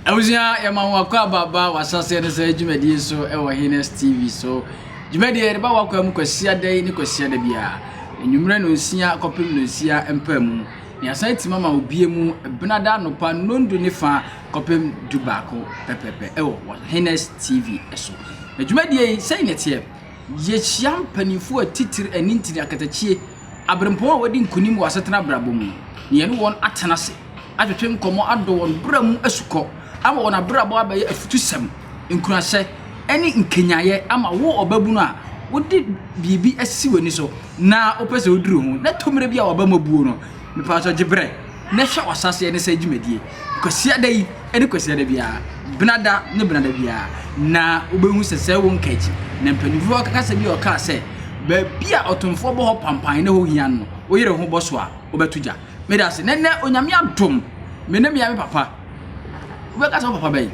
Abusua yɛma wo akɔ aba ba wasaseɛ no sɛ dwumadie so ɛwɔ Hines TV so dwumadie yɛde ba wakɔ mu kwasia da yi ne kwasia da biara enyimmerɛ no nsia kɔpem no nsia mpaa mu ne asan ti mama obie mu benada anopa nondu ne fa kɔpem du baako pɛpɛpɛ ɛwɔ wɔ Hines TV so na dwumadie yi sɛn ne teɛ yɛhyia mpanimfoɔ atitiri anintini akatakyie abirɛmpɔn a wɔadi nkonim wɔ asetena abrabɔ mu no, na yɛne wɔn atena ase atwetwe nkɔmmɔ adɔ wɔn bra mu asukɔ ama wɔn abrabɔ abɛyɛ afutusɛm, nkuranhyɛ, ne nkanyaeɛ ama wo ɔbabunu a wode biribi asisi w'ani so na wopɛ sɛ woduru ho na ɛtɔ mmerɛ bi a w'abam abuo no. Mepatɔ gye berɛ na hwɛ w'asaseɛ ne sɛ dwumadie Kwasiada yi. ne Kwasiada biara, Benada ne Benada biara, na wobɛhu sɛ sɛ wo nkaakyi. Na mpanyimfoɔ akasa bi a ɔkaa sɛ, baabi a ɔtomfoɔ bɔ hɔ pampan na ɛhɔ hia no, wo yere ho bɔ so a, wobɛto gya. Meda ase. Na nnɛ, Onyame adom, me ne mea me papa. Wobɛka sɛ wo papa bɛn?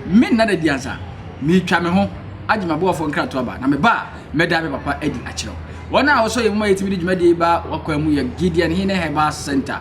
Me nna da di ansa. Meretwa me ho agye m'aboafoɔ nkrato aba, na meba a, mɛda me papa adi akyerɛ wo. Wɔn a wɔsɔ yɛn mu ma yɛtumi de dwumadie yi ba w'akwan mu yɛ Gideon Hene Herbal Centre,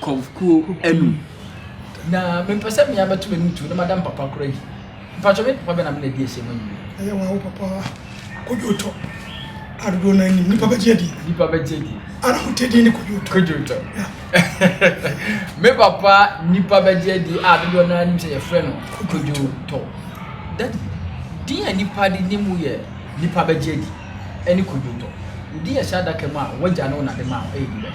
kɔvkuo anum. Na mempɛ sɛ mea mɛto m'anim tuo na mada mpapa kora yi. Mpakyɛ me papa bɛn na me na adi asie ma nyini yi? Ɛyɛ waa wo papa Kodwootɔ a dodoɔ no ara nim. Nnipa bɛgye adie. Nnipa bɛgye adie. A na mote din ne Kodwootɔ. Kodwootɔ. Yeah. me papa nnipa bɛgye adie a dodoɔ no ara nim sɛ yɛfrɛ no Kodwootɔ. Daddy, din a nnipa de nim wo yɛ nnipa bɛgye adi ɛne Kodwootɔ. Wo din a ɛhyɛ adaka mu a w'agya ne wo na de maa wo ɛyɛ din bɛn?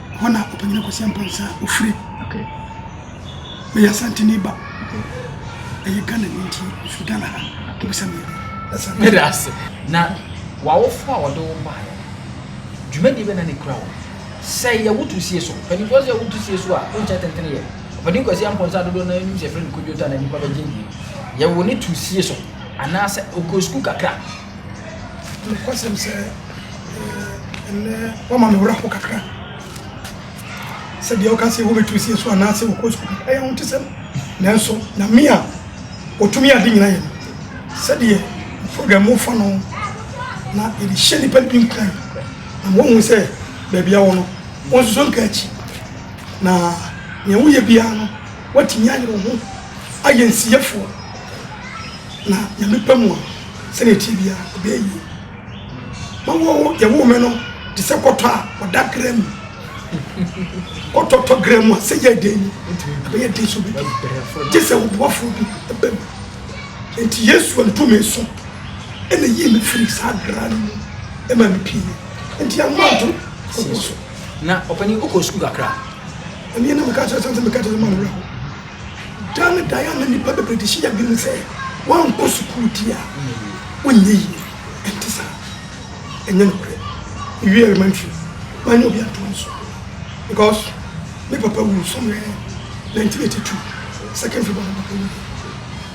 hɔ na ɔpanyin kwasi ampɔnsa ofiri okay meyɛ asanteni ba okay ɛyɛ ghana ni nti firi ghana ha okay bisa mi ɛsɛ ase na wawofo a wɔde wo baeɛ dwumadi bɛ na ne kura wo sɛ yɛ wotu sie so mpanimfoɔ sɛ wotu sie so a wonkyɛ tentene yɛ ɔpanin kwasi ampɔnsa dodoɔ na anim sɛ ɛfrɛ no kodwota na nnipa bɛgye die yɛwo ne tu sie so anaasɛ ɔkɔ sukuu kakra Nokwasɛm sɛ, ɛnnɛ wɔma me werɛ how kakra sɛ deɛ woka sɛ wobɛtu sie so anaasɛ wokɔ sukuu kakra ɛyɛ ahotesɛm nanso nyame a ɔtumi ade nyina yɛ no sɛdeɛ program mu fa no na yɛde hyɛ nnipa no bi nkuran na ma wɔhu sɛ baabi a wɔ no wɔnsusu nka akyi na nea woyɛ biara no woatumi ayere wo ho ayɛ nsiyefoɔ na nyame pɛ mu a sɛdeɛ ɛteɛ biara ɔbɛyɛ yie. Mawɔ wo, yɛwoo me no te sɛ kɔtɔ a ɔda gra mu. Kɔtɔ tɔ gra mu a sɛ yɛ den ɛbɛyɛ den so bɛdi gye sɛ ɔboafoɔ bi ɛbɛ mu. Nti Yesu antu me so ɛna yii me firi saa gra no mu ɛma me pie. Nti ano anto kokoɔ so. Na ɔpani wokɔ sukuu kakra? Ɛneɛ na meka kyerɛ sɛ meka kyerɛ sɛ ma no werɛ ho. Dan ne dan ama nnipa bebree de hyɛ yɛn adwene mu sɛ woankɔ sukuu di a wonyɛ yie. Ɛnte saa. Ɛnyɛ nokorɛ. Mewie elementary, mannya obi antoa me so because me papa wu somewhere 1982, second February na me papa wu.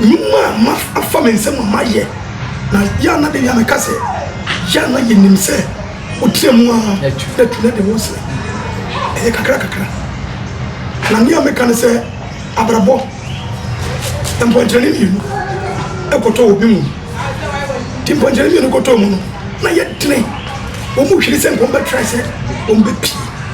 Nnwuma a mafa me nsam a mayɛ, na yɛ a na de Nyame ka sɛ, yɛ a na yɛnim sɛ wotra mu ara na tu na de wo srɛ. Ɛyɛ kakra kakra. Na nea meka ne sɛ, abrabɔ, mpɔnkyerɛne mmienu kɔtɔ wɔ bi mu. Nti mpɔnkyerɛne mmienu kɔtɔɔ mu no, na yɛ dene. Wɔn mu hwere sɛ nka wɔn bɛtrae sɛ wɔn bɛpie.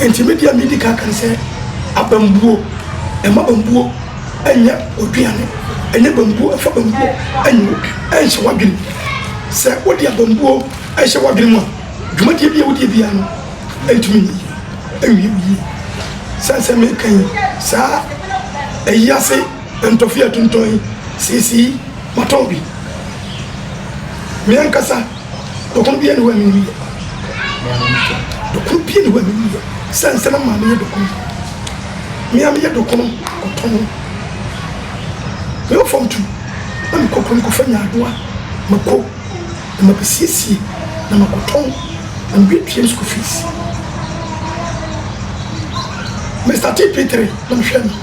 Enti me deɛ medi kan aka ne sɛ abambuo, mma bambuo nyɛ w'aduane, nyɛ bambuo, mfa bambuo nhyɛ w'adwene. Sɛ wode abambuo hyɛ w'adwene mu a, dwumadie bi a wodie biara no, ɛntumi nyɛ yie, ɛnwie wo yie. Sɛn sɛ meka yi, saa ayi ase ntɔfe a ɛtontɔn yi, seesei matɔn bi, me ankasa. Dɔkono biara nni hɔ a me nniyɛ. Dɔkono biara nni hɔ a me nniyɛ. Sɛ nsɛ me maame yɛ dɔkono. Me ara me yɛ dɔkono kɔ tɔ no. Me wɔ fam tu na me kɔ kurom kɔ fa nyaadoa ma ko na ma bɛ siesie na ma kɔ tɔn na me bɛ tua me school fees. Me startee P3 na me hwɛ no.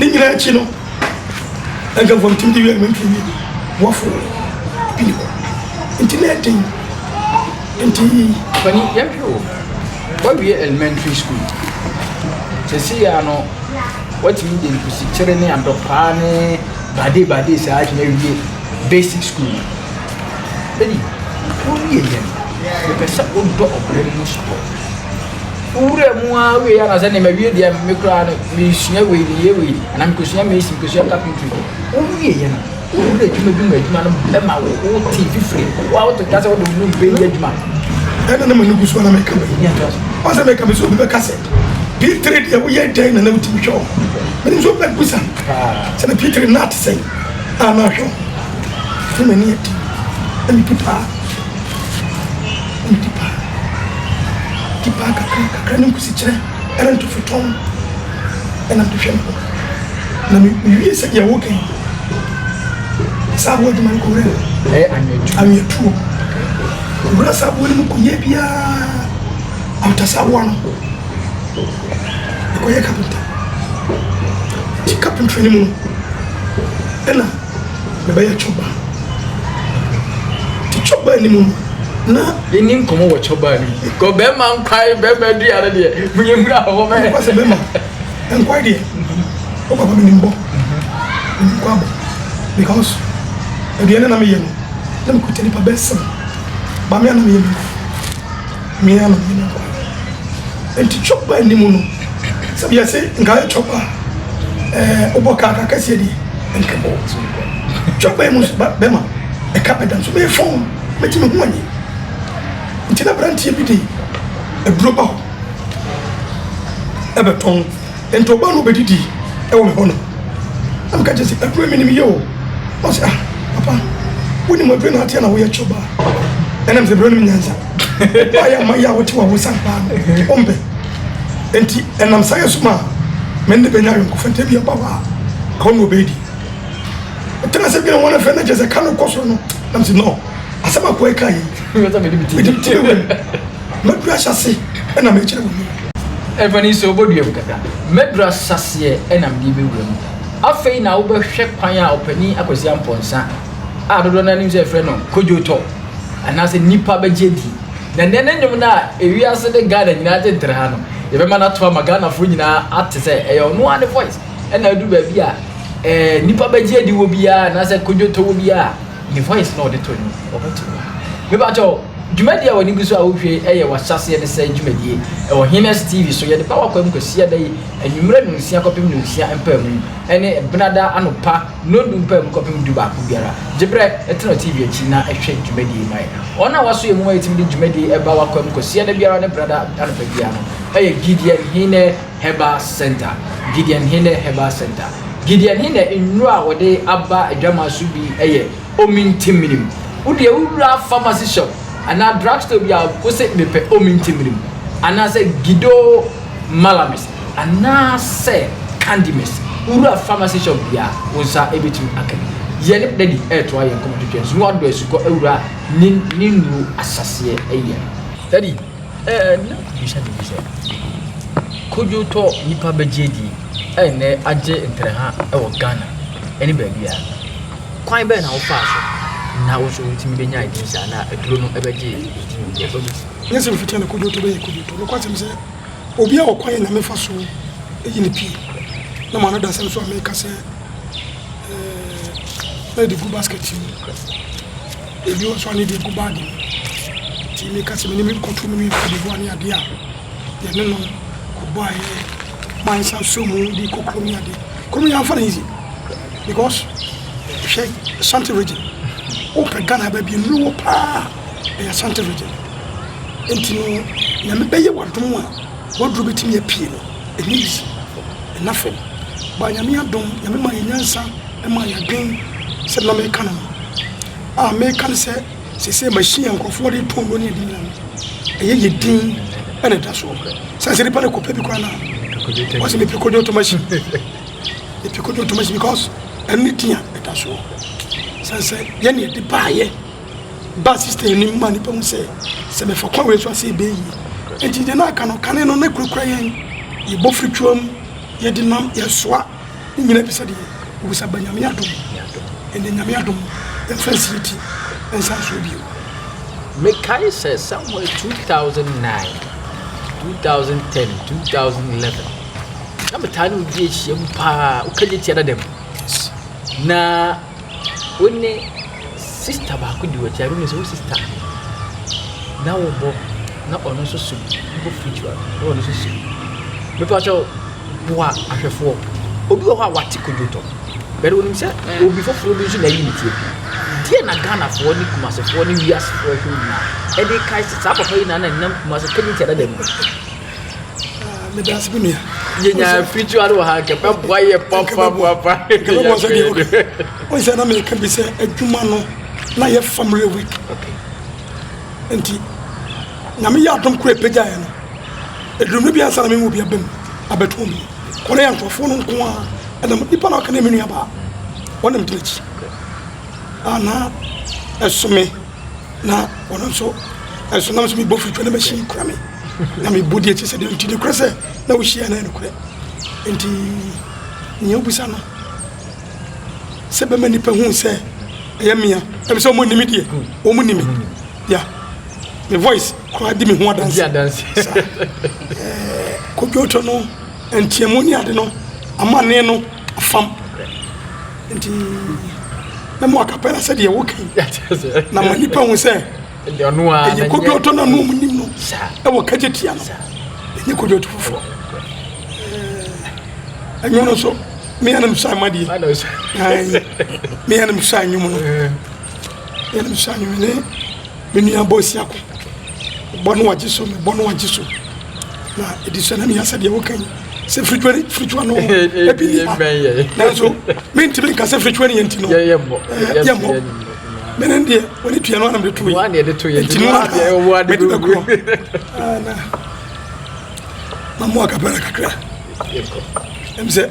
ne nyinaa akyi no nkurɔfoɔ ntumi de wiɛ mentumi wie wɔfo pii hɔ nti na ɛden nti pani yɛhwɛ wo wawie elementary school sɛsi ya no watumi de nkusikyere ne adɔpaa ne bade bade saa atumi awie basic school no ɛni wowie yɛ no mepɛ sɛ wodɔ ɔbrɛ mu sport wowura mu ara wei ara na sɛ nneɛma wie deɛ me koraa no mesua wei de yɛ wei anaa mekɔsua mesi mekɔsua carpentry wowie yɛ no wowura adwuma bi mu adwuma no ɛma wo wote fifiri wo a woto dwa sɛ wode wo no mfɛ yɛ adwuma ɛna na manu gu so ana meka me ɔsɛ meka me sɛ obi bɛka sɛ pitiri deɛ woyɛ dɛn na na wotumi hwɛ wo mene nso bɛ busa sɛ ne pitiri na ate sɛn a na hwɛ wo ne m'ani adi na medi paa Wonndi pa. Di pa kakra kakra ne nkusikyerɛ ɛrento fetɔmm. Ɛnam de hwɛ me ho na mewie sɛdeɛ woka yi. Saa aboɔ adwuma no kɔwura mu. Ɛyɛ anweatuo. Anweatuo. Kɔwura saa aboɔ no mu kɔyɛ biara after saa aboɔ no mekɔyɛ kapenta. Nti kapentry no mu no ɛna. Yɛbɛyɛ chopper. Te chopper anim no na. Yɛni nkɔmɔ wɔ chopper anim. Kɔ bɛrima nkwae bɛrima adua no deɛ mo yɛ mura hɔ mɛ. Nkwa sɛ bɛrima nkwae deɛ o papa mi ni mbɔ mi nkwa bɔ because aduane na mi yɛ no na mi kuta nipa bɛɛ sɛm bamia na mi yɛ no. Mia na menya ba. Enti chopper anim no sɛ bia se nka ayɛ chopper a eh, wobɔ car ka kɛseɛ deɛ ɛnkɛ bɔ so mekɔ chopper yi mu nso ba bɛma ɛka bɛda nso meyɛ fɔn mɛti me ho anyi nti na branteɛ bi de aduro ba hɔ ɛbɛtɔn Enti ɔbaa no bedidi wɔ me hɔ no, na meka kyerɛ sɛ aduane menim yɛ o. Na ɔsɛ ah papa, wonim aduane na ateɛ na woyɛ kyɛ ɔbaa. Ɛnam sɛ brɛ nom nyansa. Ɔbaa yɛ ama yɛ a wote wɔ awosa paa no, ɔmpɛ. Enti ɛnam saa yɛ so ma me ne bɛnya ayɔnkofa nti ebi ɔba hɔ a, ka ɔne ɔbɛdi. Ɛtena sɛ bi na wɔn afɛ na kyerɛ sɛ ka no kɔ soro no, nam sɛ no, asɛm akoa yi ka yi, mede me ti bɛwura mu. Mɛduru ahyɛase na mekyerɛ wo mu. Ɛmfa ni sɛ wobɛdua mu kakra. Mɛduru ahyɛaseɛ na mede bɛwura mu. Afei na wobɛhwɛ kwan a ɔpanin Akwasi Ampɔn Nsa a dodoɔ no ara nim sɛ yɛfrɛ no Kojo Tɔ anaasɛ nnipa bɛgye adie. Na nnɛ ne nnwom no a ewiase ne Ghana nyinaa gye ntere ha no, yɛbɛma no ato ama Ghanafoɔ nyinaa ate sɛ ɛyɛ ɔno ara ne voice na aduru baabi a ɛɛ nnipa bɛgye adi wɔ biara anaasɛ Kojo Tɔ wɔ biara a ne voice na ɔde to nnwom. Ɔbɛto hɔ. Mepakyɛw. Dwumadie a w'ani gu so a wohwɛ yi yɛ w'ahyɛaseɛ ne sɛɛ dwumadie ɛwɔ Hines TV so. Yɛde ba w'akwan mu Kwasiada yi anwummerɛ nonsia kɔpem nonsia mpaamu ɛne Benada anopa nondu mpaamu kɔpem du baako biara. Gye berɛ, tena TV akyi na hwɛ dwumadie yi ma yɛn. Wɔn a wɔaso yɛn mu ma yɛtumi de dwumadie yi ba w'akwan mu Kwasiada biara ne Benada anɔpa biara no yɛ Gideon Hine Herbal Centre, Gideon Hine Herbal Centre. Gideon Hine nnuro a wɔde aba adwamaa so bi yɛ Omintimmirim. Wo deɛ wo wura pharmacy shop anaa drug store bi a wo se mepɛ omintimmirim anaasɛ Gido Malamis anaasɛ Candy Mist. Wo wura pharmacy shop biara wo nsa bɛtumi aka bi. Yɛne Daddy retoa yɛn nkɔmmɔ twetwe nso na wadɔ asukɔ awura ne ne nnuro ahyɛaseɛ yɛ no. Daddy, ɛɛ na bisa biribi sɛ, kodwo tɔ nnipa bɛgye adie a ɛnnɛ agye ntrɛha wɔ Ghana ne baabiara. Kwan bɛn na wofaa so na wo nso wutumi benyaa din saa na aduro no bɛgyee wo din wɔ nnipa mu? Nyɛ sɛ ofitaa na Kodiotɔ bɛyɛ Kodiotɔ. Nokwasɛm sɛ obiara wɔ kwan na mefa so yi no pue na m'ano da asɛm so a meka sɛ ɛɛ na ɛde gu basket mu. Ebi wɔ so a na ɛde gu baage mu. Nti meka sɛ me ne me kɔto no me Cote d'Ivoire ne adeɛ a yɛne no kɔbɔɔ ayɛ ma nsa so mu de kɔ kurom yɛ ade kurom yɛ anfa no easy because hwɛ asante region wopɛ ghana ba bi nnuro wɔ paa ɛyɛ asante region nti no nyame bɛyɛ wadom a waduro bɛtumi apue no ɛnyɛ easy ɛna fam ba nyame adom nyame ma yɛ nyansa ma yɛ adwen sɛ na meka no no a meka no sɛ Sesei machine a nkurɔfoɔ de tɔn no ne yɛde nyina no, ɛyɛ yɛ din na ɛda soɔ. Sɛ sɛ nipa no kɔpɛ bi koraa na wɔsɛ mepɛ kodo to machine, mepɛ kodo to machine because ɛno ne din a ɛda soɔ. Sɛ sɛ yɛne yɛde baayɛ ba system anim ma nipa hu sɛ sɛ mɛfa kwan wei so ase ɛbɛyɛ yie. Nti deɛ na aka no kane no na kurakura yɛn, yɛbɔ firi twam, yɛde nam, yɛsoa. ne nyina bi sɛ deɛ obusa ba nyame adom ɛnde nyame adom yɛmfa nsie ti ɛnsa nsoɔ bio mekae sɛ somewhere 2009 2010 2011 na metaa ne obi ahyiam paa wokagye tia dadam na Wo ne sista baako di w'akyi, I don't know sɛ wo sista ahe, na wobɔ na ɔno nso som bi, wobɔ free to ano na ɔno nso som bi. Mepa kyɛw, boa ahwɛfoɔ. Obi wɔ hɔ a wate kodwotɔ, bɛde wonim sɛ eh. obi foforɔ bi nso na ayi ne tiam. Deɛ na Ghanafoɔ ne Kumasefoɔ ne wiasefoɔ ahwɛ nyinaa ɛde kae sɛ saa papa yi na na ɛnam Kumase kɛnyɛ ti adada mu. meda ase bi nua yɛnya fridge ade wɔ ha nka bɛboa yɛ papapapa bɛboa sɛ deɛ okay wone sɛ na meka bi sɛ adwuma no na yɛ family week nti nyame yɛ adom kora ɛpɛgyaeɛ no ɛdurum no biansa na memu bi abam abɛtɔn bi kɔne yɛ nkurɔfoɔ no nko a ɛnam nipa na ɔka ne me nuabaa ɔne megyina akyi ana ɛsome Na ɔno nso ɛso nam so mebɔ fitwa na mɛhyɛ yi kura me na mebɔ deɛ ɛte sɛ deɛ nti nokorɛ sɛ na wohyia na ɛnokorɛ nti nea wobisa no sɛ bɛma nnipa hu sɛ ɛyɛ mea ɛbi sɛ ɔmo nimi deɛ ɔmo nimi ya me voice koraa di me ho adanse kodwotɔ no ntiamu ne ade no amanneɛ no afam nti na mo akapɛ na sɛdeɛ woka yi na ma nnipa hu sɛ ɛyɛ kodwoɔtɔ no ano ɔmnim no ɛwɔ kagye tia no ɛnyɛ kodwoɔto foforɔ ɛnwo no nso meyɛ nom sa ma deɛ meyɛ nom sa nwom no meyɛ nom sa nwom ne Me nua Boasia ko bɔ no wagye so mebɔ no wagye so na ɛdi so na meyɛ sɛ deɛ woka yi sɛ fritwa ne fritwa no ɛbi ni ha nanso mentumi nka sɛ fritwa ne yɛnti no yɛmmɔ mene deɛ wɔne tua no anam de to yi ɛnti no a mede bɛkorɔ mamoa kapɛra kakra ɛm sɛ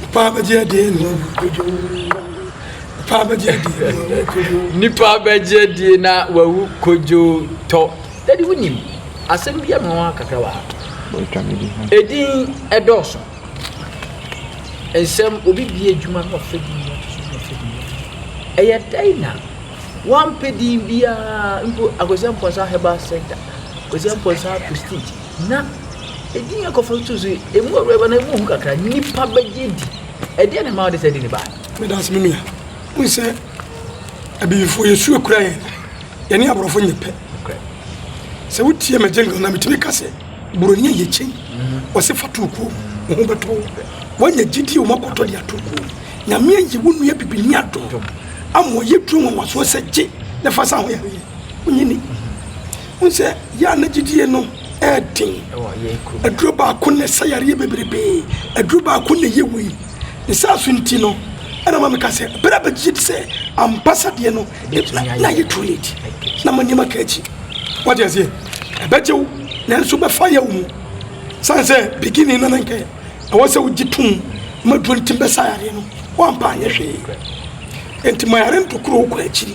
Nnipa bɛgye adie na wɔbɛdwo. Nnipa bɛgye adie na wɔbɛdwo kodwo. Nnipa bɛgye adie na wɔawu kodwo tɔ. Dadi wonim asɛm bi ama wɔn kakra wɔ ha. Edin ɛdɔɔso. Nsɛm obi bie adwuma na ɔfɛ din bi ato so na ɔfɛ din bi ato so. Ɛyɛ dɛn na wɔampɛ din biara mpo Akwasi Amponsah Herbal Center, Akwasi Amponsah Prestige. Na edin a ɛkɔforo too so yi, emu awurae ba no, emu hu kakra, nnipa bɛgye di. Ɛdeɛn na ɛma wode saa din baeɛ? Meda ase me nua. Wohu sɛ Abibifoɔ yɛ su akura yɛn. Yɛne Aborɔfo nyɛ pɛ. Sɛ wotie Majengo na metumi ka sɛ Buroni ayɛ kyɛn. Wɔse fa to kuo, wo ho bɛtɔ wo. Woanya gyidie wɔn akɔtɔ de ato kuo. Nyame ayi wo nua bibini adom ama ɔyɛ duro nwanwasoɔ sɛ gye na fa sa ho yareɛ. Wonyɛ ni. Wohu sɛ Yan ne gyidie no ɛɛden. Aduro baako na ɛsa yareɛ bebrebee. Aduro baako na ɛyɛ wei. Ne saa so nti no, ɛna ma meka sɛ berɛ a bɛgye di sɛ ampa sa deɛ no, na ayɛ too late. Na ma nneɛma ka akyi. Wate aseɛ? Ɛbɛgye wo, nanso bɛfa yɛ wo mu. Sane sɛ beginning no na nkɛ ɛwɔ sɛ wogye tom ma duro no tim bɛsa yareɛ no, woampa anyɛ hwee. Enti ma yare ntokuro wo kɔ akyiri.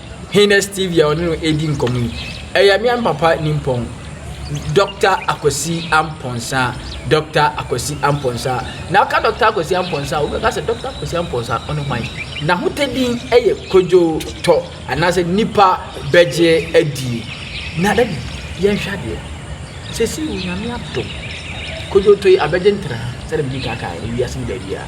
he ne Stevie a ɔne no redi nkɔmmɔ yi. Ɛyɛ me and Papa Nimpɔn, Dɔkta Akwasi Ampɔnsa, Dɔkta Akwasi Ampɔnsa. Na ɔka Dɔkta Akwasi Ampɔnsa a, wobɛka sɛ Dɔkta Akwasi Ampɔnsa ɔne hwan? N'ahotɛ din yɛ Kojo Tɔ, anaasɛ nnipa bɛgye adi. Na dadi, yɛnhwɛ adeɛ. Sɛsi Onyame adom, Kojo Tɔ yi abɛgye ntraa, sɛdeɛ medi kan kaeɛ no, wiase no baabiara.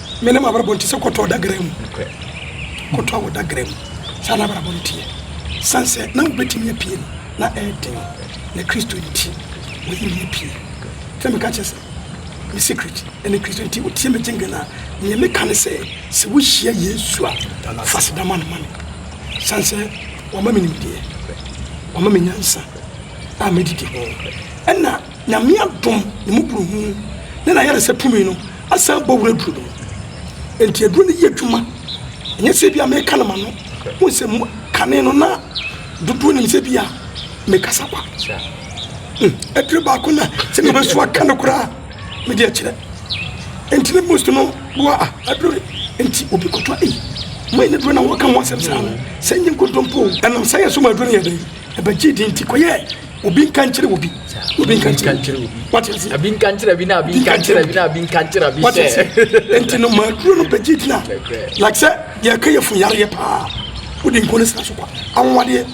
Me ne m'abrabɔ nte sɛ kɔtɔ ɔdagra mu. Kɔtɔ a wɔdagra mu. Saa na abrabɔ no teɛ. San sɛ na wobɛtumi apue no, na ɛyɛ den. Na Kristo nti, wɔyi me apue. Fɛ meka kyerɛ sɛ, me secret ne Kristo nti ɔtie me gyengene a, neɛ meka ne sɛ, sɛ wohyia Yesu a, fa seda ma no ma me. San sɛ wama me nimdeɛ, wama me nyansa a mɛdidi ho. Ɛna. Nyame adom, ne mmɔborɔhunu, ne n'ayaresa tumi no asan abɔ wura aduro no mu. Enti aduro no yɛ adwuma. Ɛnyɛ sɛ ebia meka no m'ano. Wohu sɛ kane no na dodoɔ nim sɛ ebia mekasa kwa. Hmm, aduro baako na sɛ meba so aka no koraa mede akyerɛ. Enti ne most no boa a aduro no. Enti obi kɔtɔ ei, mai ne duro na wɔka ho asɛm saa no, sɛ nye nkodompo. Ɛnam saa yɛ so ma aduro no yɛ dɛn, ɛbɛgyee din nti kɔyɛɛ obi nka nkyerɛ obi obi nka nkyerɛ obi wate ase abi nka nkyerɛ bi na abi nka nkyerɛ bi na abi nka nkyerɛ bi wate ase nti no maa duro no bɛgye gyina like sɛ yɛka yɛ fun yareɛ paa wode nko no sra so kwa anwadeɛ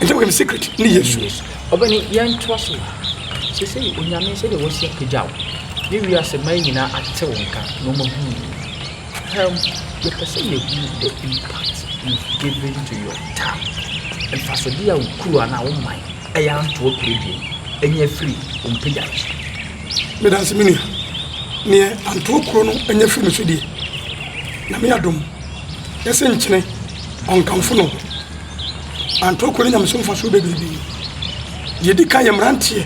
nti wɔkɛm secret ne yesu ɔbɛne yɛntoa so sɛ sɛ onyame sɛdeɛ wɔsi apagya wo ne wiase ma nyinaa ate wo nka na ɔmahunu Ham, Yɛpɛ sɛ yehu the impact you've given to your town, mfasode a wo kurow anaa wo man yɛ anto Ɔpredie anya firi wo mpagya no so. Medase me nua, neɛ Antoo kuro no anya firi me so deɛ, Nyame adom, yɛ se nkyene ɔnkamfo no. Antoo kuro no nya me so mfasoɔ bebrebe. Deɛ edi kan yɛ mmeranteɛ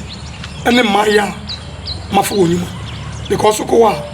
ne mmayeaa mafo wɔn nnwuma because wokɔ hɔ a,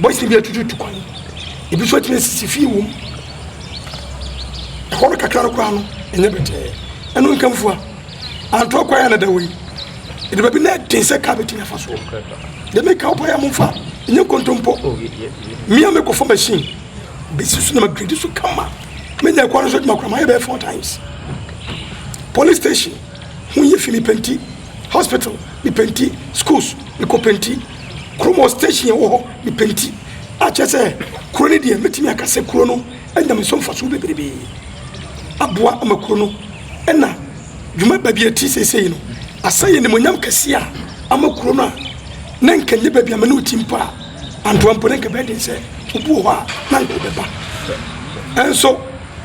Bɔhyɛ bi atututu kwan. Ebi nso atumi asisi fii wom. Ɛhɔ no kakra no koraa no, ɛnyɛ bɛtɛɛ. Ɛno nkamfua. Antoa kwan a na da wɔ yi. Ɛde baabi na ɛden sɛ kaa bɛtumi afa so. Deɛ meka wopɔ yɛ momfa, ɛnyɛ nkontompo. Oh, Mia mekɔfa machine bɛsi so na magredi so kama. Menya ɛkwan no so adwuma koraa, mayɛ bɛyɛ four times. Police station. ho yɛ fi mepenti hospital mepenti schools mekɔ penti kurom wɔ station yɛ wɔ hɔ mepenti akyɛ sɛ kuro no deɛ mɛtumi aka sɛ kuro no anyame so mfasoɔ bebrebee aboa ama kuro no ɛna dwuma baabi ɛti seesei no asɛ yɛ nimonyam kɛseɛ a ama kuro no a na nka nyɛ baabi ama ne woti mpo a antoa mpo ne nka bɛden sɛ obi wɔ hɔ a na nka ɔbɛba ɛnso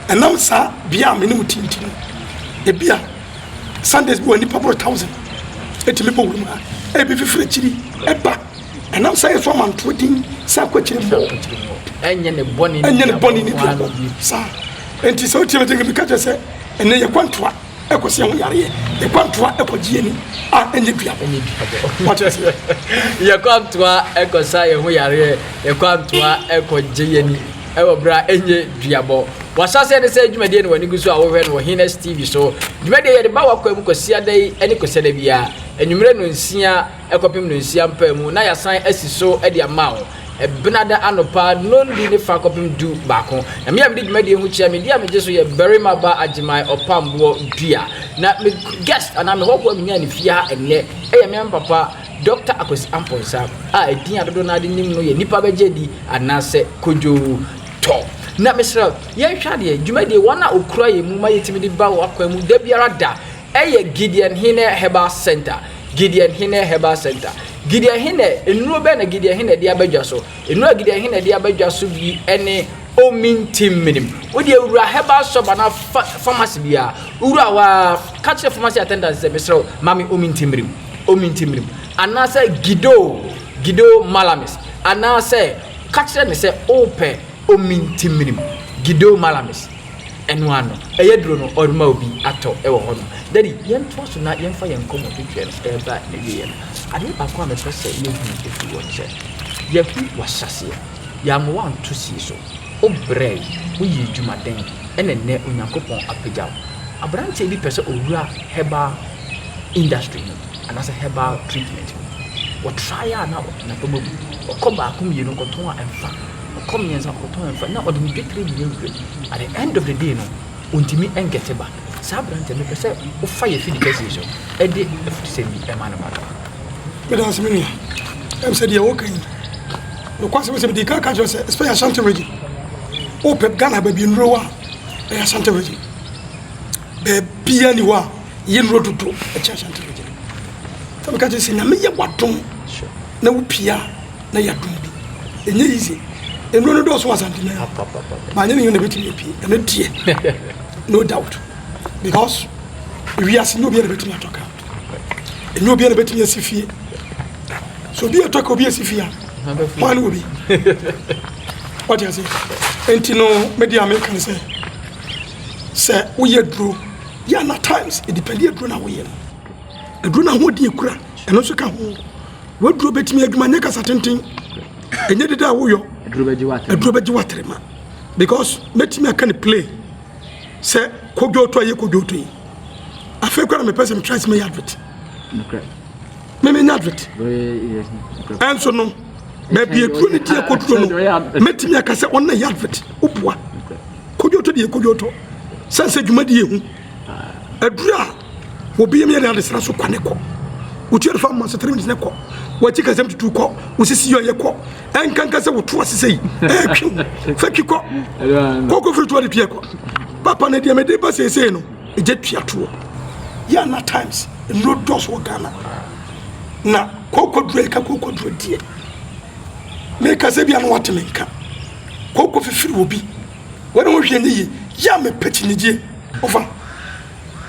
Ɛnam saa bea a me ne mo te nti no, ebia Sundays bi wɔ a nnipa boro thousand etumi bɔ wuram ha. Ebi fifiri akyiri ɛba. Ɛnam saa yɛsɔ amantoɔ din sɛ akɔ akyiri mmɔ. Ɛnyɛ ne bɔne ne duabɔfoɔ ano bi. Saa. Enti sɛ wotie me te nka bi ka kyerɛ sɛ ɛnɛ yɛkɔ ntoa. ɛkɔsi ɛho yareɛ yɛkwantoa ɛkɔgye ani a ɛnyɛ dua yɛkwantoa ɛkɔsa yɛn ho yareɛ yɛkwantoa ɛkɔgye yɛni ɛwɔ berɛ a ɛnyɛ duabɔ wasaseɛ ne sɛ dwumadie no w'ani gu so a wohwɛ no wɔ henes tv so dwumadie yɛde ba wakɔ mu kwasiada yi ne kwasiada biara anwummerɛ no nsia kɔpem no nsia mpaa mu na yɛasan asi so de ama wo Benada anɔpa nɔndi ne fa kɔpem du baako. Na me a mede dwumadie ho kyia me di a megye so yɛ Barima Ba Agyemang Ɔpamboɔ Dua. Na me guest anaa me hɔhoɔ a menyaa ne fie ha ɛnnɛ yɛ me maame papa Dɔkta Akwasi Amponsah a ɛdin a dodoɔ no ara de nim no yɛ Nipa Bɛgye Adi anaasɛ Kojo Tɔ. Na mesrɛ yɛnhwɛ adeɛ dwumadie wɔn a wɔkura yɛn mu ma yɛtumi de ba wo akwan mu da biara da Ɛyɛ Gideon Hene Herbal Centre Gideon Hene Herbal Centre Gideon Hene Nnuro bɛn na Gideon Hene de aba dwa so? Nnuro a Gideon Hene de aba dwa so bi ne Omintim Minim. Wodeɛ wura herbal shop anaa fa pharmacy biara, wowura hɔ ara ka kyerɛ pharmacy attendant sɛ mesrɛ wo ma me Omintim Minim, Omintim Minim anaasɛ Gido, Gido Malamis anaasɛ ka kyerɛ no sɛ wopɛ Omintim Minim, Gido Malamis. ɛno ano ɛyɛ duro no ɔrema obi atɔ ɛwɔ hɔ no daddy yɛn toa so na yɛn fa yɛn nkɔmɔ twitwɛ no ɛreba ne wie yɛ no adeɛ baako a mepɛ sɛ yɛ hu ɛfiri hɔ ne sɛ yɛ hu wahyɛseɛ yɛ ama wanto sie so wo brɛ wo yɛ dwuma den ɛna nnɛ onyankopɔn apagya wo abranteɛ bi pɛ sɛ owura herbal industry mu anaasɛ herbal treatment mu wɔ try a na na pɛ mu abu ɔkɔ baako mmienu kɔtɔn a ɛmfa Ɔkɔ mmiɛnsa kɔtɔn nfa na ɔde ne dwetire nyinaa agu fam at the end of the day no ɔntumi nkɛte ba saa aberanteɛ mepɛ sɛ wofa yɛ fidi kɛse yi so ɛde afutusɛm yi ɛma no ma no. meda ase me nua ɛm sɛ deɛ woka yi nokwasɛm sɛ mede ka ka kyerɛ sɛ especially ashanti region wopɛ ghana baabi nnuro wɔ a ɛyɛ ashanti region baabia ni hɔ a yɛ nnuro dodo ɛkyɛ ashanti region sɛ meka kyerɛ sɛ nyame yɛ wadom na wo pii a na ya dum bi enye yi ze enuro no dɔɔso wɔ asante na ma nye ne yɛ na betumi apie ɛno deɛ no doubt because wiase nye obiara na betumi atɔ ka enye obiara na betumi asi fie so obi atɔ ka obi asi fie a hwan ne obi ɔde ase nti no mede a meka ne sɛ sɛ woyɛ duro yɛ na times ɛdipɛnde aduro na woyɛ no aduro na ahoɔden kura ɛno nso ka ho waduro bɛtumi adwuma nyɛ kasa tenten ɛnyɛ deda a woyɔ aduro bɛgye waterema because mɛtumi aka ne play sɛ kodwoto ayɛ kodwoto yi afei kora mepɛ sɛ metra sɛ mɛyɛ adwet memenya adwet ɛnso no baabi aduro no tiɛ koduro no mɛtumi aka sɛ ɔnna yɛ adwet woboa kodwoto deɛ kodwoto sɛ sɛ dwuma deɛ ɛhu aduro a Obi yam yɛ de adesena so kwa ne kɔ. Wotu adefa mma so three minutes ne kɔ. Wakyi kasɛm tutu kɔ. Wosisi yɛ ɔyɛ kɔ. Ɛnkanka sɛ woto ase sɛ yi. Ɛɛtwe wo. Fa twi kɔ. Kɔkɔ firi to ade tuɛ kɔ. Papa ne deɛ mede ba seesei no, ɛgya tua toɔ. Yɛ na times, nnuro dɔɔso wɔ Ghana. Na kɔkɔ duro ɛka kɔkɔ duro deɛ. Meka sɛ bia no wate me nka. Kɔkɔ fifiri wɔ bi. Wɔne ho hwɛ ne yi. Yɛ a mepɛ kyinigyeɛ. Ofa.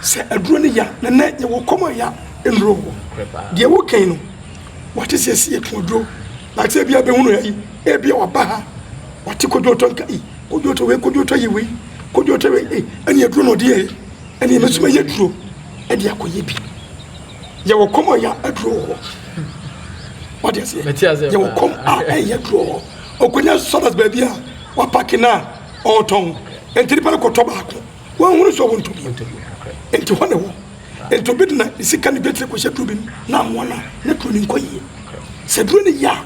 Sɛ aduro no ya na nɛ yɛwɔ kɔm a ya nnuro wɔ hɔ deɛ wo kɛn no wate sɛ si yɛtɔn aduro na sɛ bia bɛhunu ya yi ebia waba ha wate kodwotɔ nka i kodwotɔ wei kodwotɔ yi wei kodwotɔ wei ei ɛne aduro na ɔde yɛ yi ɛne yɛ mɛsoma yɛ aduro ɛde akɔyɛ bi yɛwɔ kɔm a ya aduro wɔ hɔ wate aseɛ yɛwɔ kɔm a ɛyɛ aduro wɔ hɔ ɔkɔnya sɔdas baabi a wapake no a ɔtɔn ɛntiri pa no kɔtɔ baako Wanhunu sɛ ɔwɔ ntobi nti hɔ na ɛwɔ. Nti obi de na ne sika ne betire kɔhyɛ duro bi mu na amoa no a na duro no nkɔ yie. Sɛ duro no yɛ a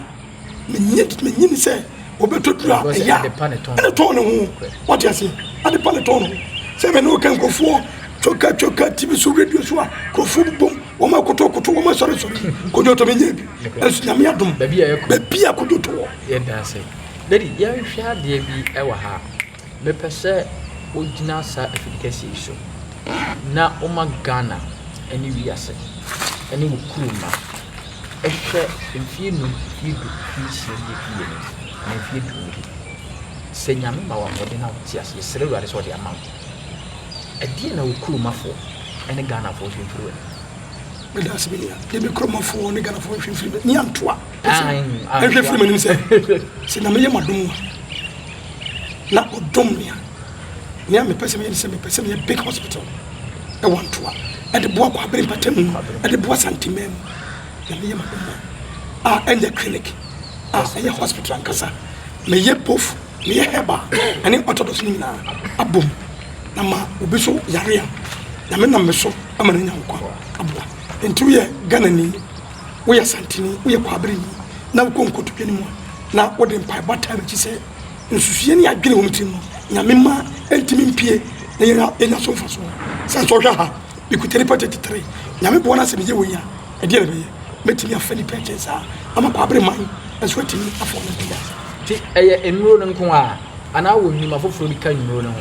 menye menye ne sɛ ɔbɛtɔ duro a ɛyɛ a ɛne tɔn ne ho wate aseɛ ade pa ne tɔn ne ho sɛ mene woka nkurɔfoɔ twoka twoka tv so radio so a nkurɔfoɔ bobom wɔma kotokoto wɔma sɔresɔre kodwoto menyɛ bi ɛnso nyame adom baabi a kodwoto wɔ yɛda ase dadi yɛnhwɛ adeɛ bi ɛwɔ ha Mepɛ sɛ wogyina saa afiri kɛseɛ yi so na woma Ghana ne wiase ne wo kurom mma hwɛ mfeɛ nnum ne du ne nsia bi a ɛfiri yɛ anim anaa mfeɛ du ne bi. Sɛ Nyame ma wo ahoɔden na wote ase, yɛsrɛ Awurade sɛ ɔde ama wo. Ɛdeɛn na wo kuromafoɔ ne Ghanafoɔ nhwɛ mfiri w'anim? meda ase bi nua de me kuromafoɔ ne Ghanafoɔ nhwɛ mfiri bɛ ne antoa nhwɛ mfiri m'anim sɛ sɛ Nyame yɛ m'adom a na ɔdom me a, nea mepɛ sɛ meyɛ ne sɛ mepɛ sɛ meyɛ big hospital ɛwɔ Antoa ɛde boa Kwabere mpatamu ɛde boa Santemaa mu na meyɛ ma ɔma a ɛnyɛ clinic a ɛyɛ hospital ankasa meyɛ both meyɛ herbal ɛne orthodox no nyinaa abom na ma obi so yare a nyame nam me so ama no anya nkwa aboa nti woyɛ Ghanani woyɛ santene, woyɛ kwaberenyi na wokɔ nkotodwe no mu a, na wode mpaebɔ ataa w'akyi sɛ nsusuiɛ ne adwene wɔ me tirim no, Nyame mma ɛntumi mpue na yɛnya yɛnya so mfasoɔ. Sɛn sɛ ɔhwɛ aha, mekuta nnipa tete tere. Nyame boa na sɛ meyɛ wei a, ɛdeɛn na ɛbɛyɛ? Mɛtumi afa nnipa ɛkyɛn saa ama kwabereman nso atumi afa wɔn mpia? Nti ɛyɛ nnuro no nko ara anaa wɔn nnwuma foforɔ bi ka nnuro no ho?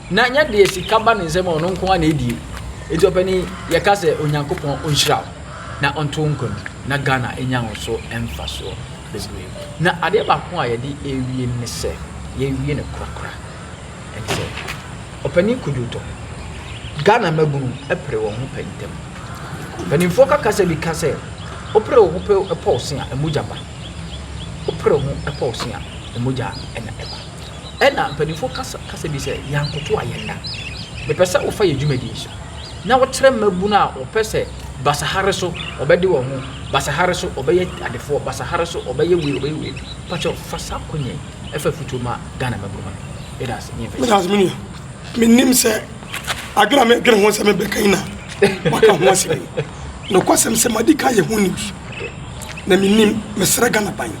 Na nyɛ deɛ sika ba ne nsam a ɔno nko ara na ɛdie. Enti ɔpanin yɛka sɛ Onyankopɔn ɔnhyira wo na ɔnto wo nkwa mu na Ghana ɛnya wo so mfasoɔ bebree. Na adeɛ baako a yɛde ɛrewie no ne sɛ yɛwie no korakora ɛne sɛ ɔpanin Kojo Tɔ, Ghana mmabunu pere wɔn ho pɛ ntɛm. Mpanimfoɔ kakasa bi ka sɛ wopere wo ho pɛ pɔw se a mogya ba, wopere ho pɔw se a mogya na ɛba. Ɛna mpanyimfo kasa kasa bi sɛ, Yɛankotow a yɛnna. Mepɛ sɛ wofa yɛn dwumadi yi so na wokyerɛ mmabun a wɔpɛ sɛ basaha so wɔbɛde wɔn ho, basaha so wɔbɛyɛ adefoɔ, basaha so wɔbɛyɛ wei, wɔbɛyɛ wei. Pakyɛw, fa saa akwannya yi fa afotuo ma Ghana mmabun ma me. Meda ase, me mfɛhyɛ. Meda ase, me nua. Menim sɛ adwene a medwene ho sɛ mebɛka yi na waka ho asɛm yi. Nokwasɛm sɛ madi kan yɛ ho news. Na menim, mesrɛ Ghana ban.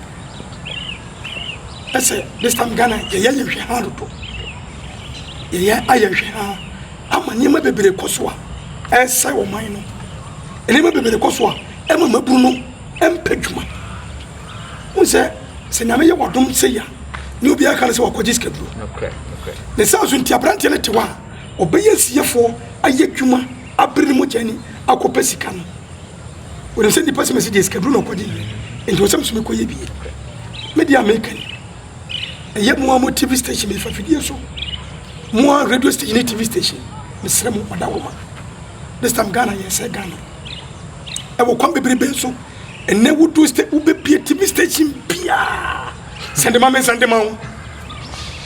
ɛsɛ this time ghana yɛyɛ ayɛ nhwɛ ha dodo yɛyɛ ayɛ nhwɛ ha ama nneɛma bebree kɔ so a ɛresɛe ɔman no nneɛma bebree kɔ so a ɛma maburu no mpɛ dwuma n sɛ sɛ nyame yɛ wadom sɛ ya ne obiara ka no sɛ wakɔgye sikaduro ne saa so nti aberanteɛ no te hɔ a ɔbɛyɛ siefoɔ ayɛ adwuma abere no mu gyani akɔpɛ sika no Wɔnim sɛ nnipa sɛ mesi deɛ sikaduro na ɔkɔgye yɛ nti wɔ sɛ meso mekɔyɛ bie. Me deɛ a meka ni, ɛyɛ mo a mo TV station mefa fidie so, mo a radio station ne TV station, mesrɛ mo ɔda hɔ ma. This time Ghana yɛ sɛ Ghana. Ɛwɔ kwan bebrebe so. Ɛnɛ wodu state wobɛbie TV station biara. Sɛnde ma me nsɛnde ma wo.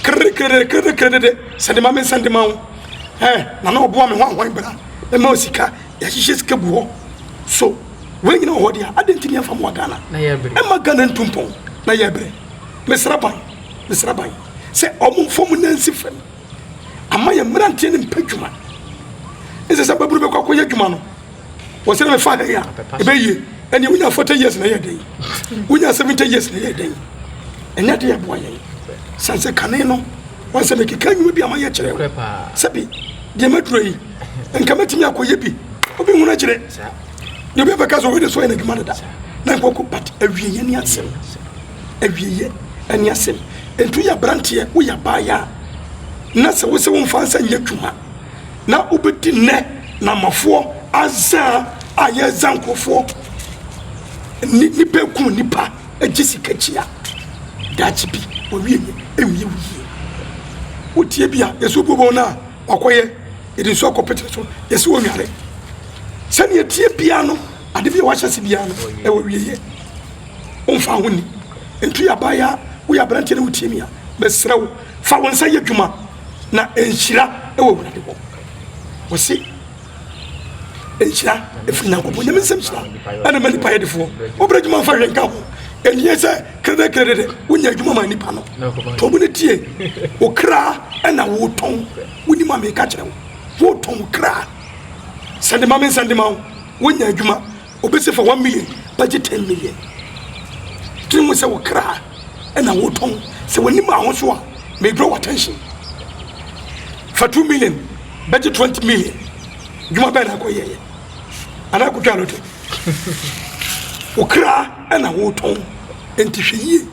Kere kere kere kere de sɛnde ma me nsɛnde ma wo. Ɛ na na ɔboa me ho ahoan bra. Ɛma osika yɛahyehyɛ sika gu hɔ so wei nyina wɔ hɔ deɛ adɛn nti ne yɛmfa mmoa ghana ɛma ghana ntu mpɔn na yɛbrɛ mesra ban mesra ban sɛ ɔmo mfa mu nansi fam ama yɛ mmeranteɛ no mpɛ adwuma ɛsɛ sɛ babunu bɛkɔ akɔyɛ adwuma no wɔ sɛ ne mefa ha yi a ɛbɛyie ɛneɛ wonya 40 years na ɛyɛ dɛn wonya 70 years na ɛyɛ dɛn ɛnyɛ deɛ ɛboa yɛn sane sɛ kane no wɔn sɛ mekeka nnwuma bi ama yɛkyerɛ wo sɛbi deɛ maduro yi nka mɛtumi akɔyɛ bi obi hunu akyerɛ deɛ obi abɛka sɛ wei de so yɛ no adwuma dada na nkɔkɔ but awieyɛ ne asɛm awieyɛ ne asɛm nti woyɛ aberanteɛ woyɛ abaayɛ a na sɛ wo sɛ womfa nsa nyɛ adwuma na wobɛdi nnɛ na amafoɔ azaa a yɛza nkurɔfoɔ nipa eku nipa egye sika kyia daakye bi wɔwie yɛ ewie wo yie wotie bi a yɛsɛ obuobɔ no a Wakɔyɛ, yɛde nsuo akɔpete ne so, yɛsi ɔnware. Sɛdeɛ ɛteɛ biara no, ade bi a wahyɛ ase biara no, ɛwɔ awieeɛ. Womfa ho ni. Nti yɛ abaayewa, woyɛ aberanteɛ na wotie me a, mesrɛ wo, fa wo nsa yɛ adwuma na nhyira wɔ Awurade hɔ. Wɔse nhyira ɛfiri nyankopɔn nyame nsɛm hyira ɛna ma nipa yɛdefoɔ wobra adwuma mfa hwɛ nka ho ɛnneɛ sɛ kredɛkredɛ dɛ wonya adwuma ma nipa no tɔn mu no tie wo kra ɛna wotɔn wonim a meka kyerɛ wo wotɔn wo kra sɛnde ma me nsɛnde ma wo wonya adwuma Obi se fa one million bɛgye ten million. Dwene ho sɛ wo kra na wotɔn. Sɛ w'ani maa ho so a, may draw attention. Fa two million bɛgye twenty million. Dwuma bɛn na akɔyɛeɛ? Anaa akɔtwaa lottery? Wo kra na wotɔn, enti hwɛ yie.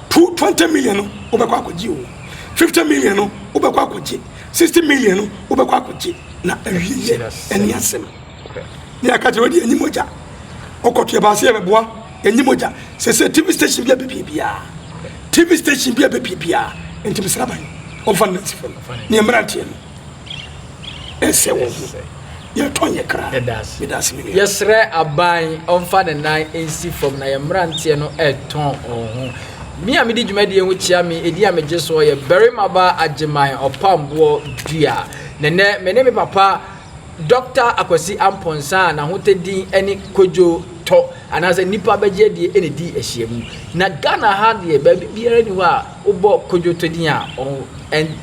Two twenty million no wobɛkɔ akɔgye o, fifty million no wobɛkɔ akɔgye, sixty million no wobɛkɔ akɔgye, na awieeɛ ɛne asɛm. ne yɛaka kyerɛ wode ɛnyi mogya wokɔto yɛbaa sɛ yɛbɛboa ɛnyi mogya sɛ sɛ tv station bi a bɛpie biaa tv station bi a bɛpie biaa nti mesra ban ɔmfa no nansifa no ne mmeranteɛ no ɛsɛ wɔ ho yɛtɔn yɛ kra yɛsrɛ aban ɔmfa ne nan nsi fam na yɛ mmeranteɛ no ɛtɔn wɔn ho me a mede dwumadie ho kyia me ɛdi a megye soɔ yɛ barima ba agyeman ɔpamboɔ dua nɛnɛ me ne me papa Dɔkta Akwasi Amponsah a n'ahotɛ din ne Kwadwo Tɔ anaasɛ Nnipa Bɛgye Adie na ɛdii ahyiamu. Na Ghana ha deɛ baabi biara nni hɔ a wobɔ Kwadwo Tɔ din a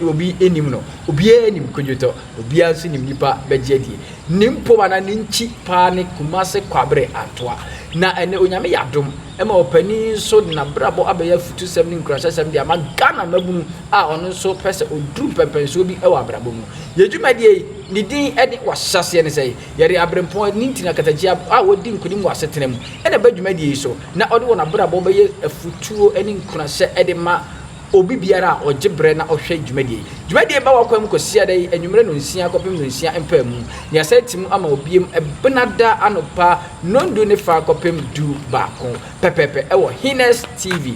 obi nnim no. Obiara nim Kwadwo Tɔ, obiara nso nim Nnipa Bɛgye Adie. Ne mpom anaa ne nkyi paa ne Kumase Kwabre Antoa. Na ɛnnɛ Onyame yɛ adom ma ɔpanin nso de n'abrabɔ abɛyɛ afutusɛm ne nkuranhyɛsɛm de ama Ghana mmabunu. a ɔno nso pɛ sɛ ɔduru mpɛmpɛnsoɔ bi wɔ abrabɔ mu. Yɛn dwumadie yi, ne din ne W'ahyɛseɛ ne Sɛn? Yɛde aberempɔn, ne nti na katakyia a wɔdi nkonim wɔ asetena mu na ɛba dwumadie yi so na wɔde wɔn abrabɔ bɛyɛ afutuo ne nkuranhyɛ de ma obi biara a ɔgye berɛ na ɔhwɛ dwumadie yi. Dwumadie yi ba w'akwan mu Kwasiada yi anwummerɛ nonsia kɔpem nonsia mpaamu na yɛasan ati mu ama ɔbiem Benada anɔpa nɔndu ne fa kɔpem du baako pɛpɛɛpɛ wɔ Hines TV.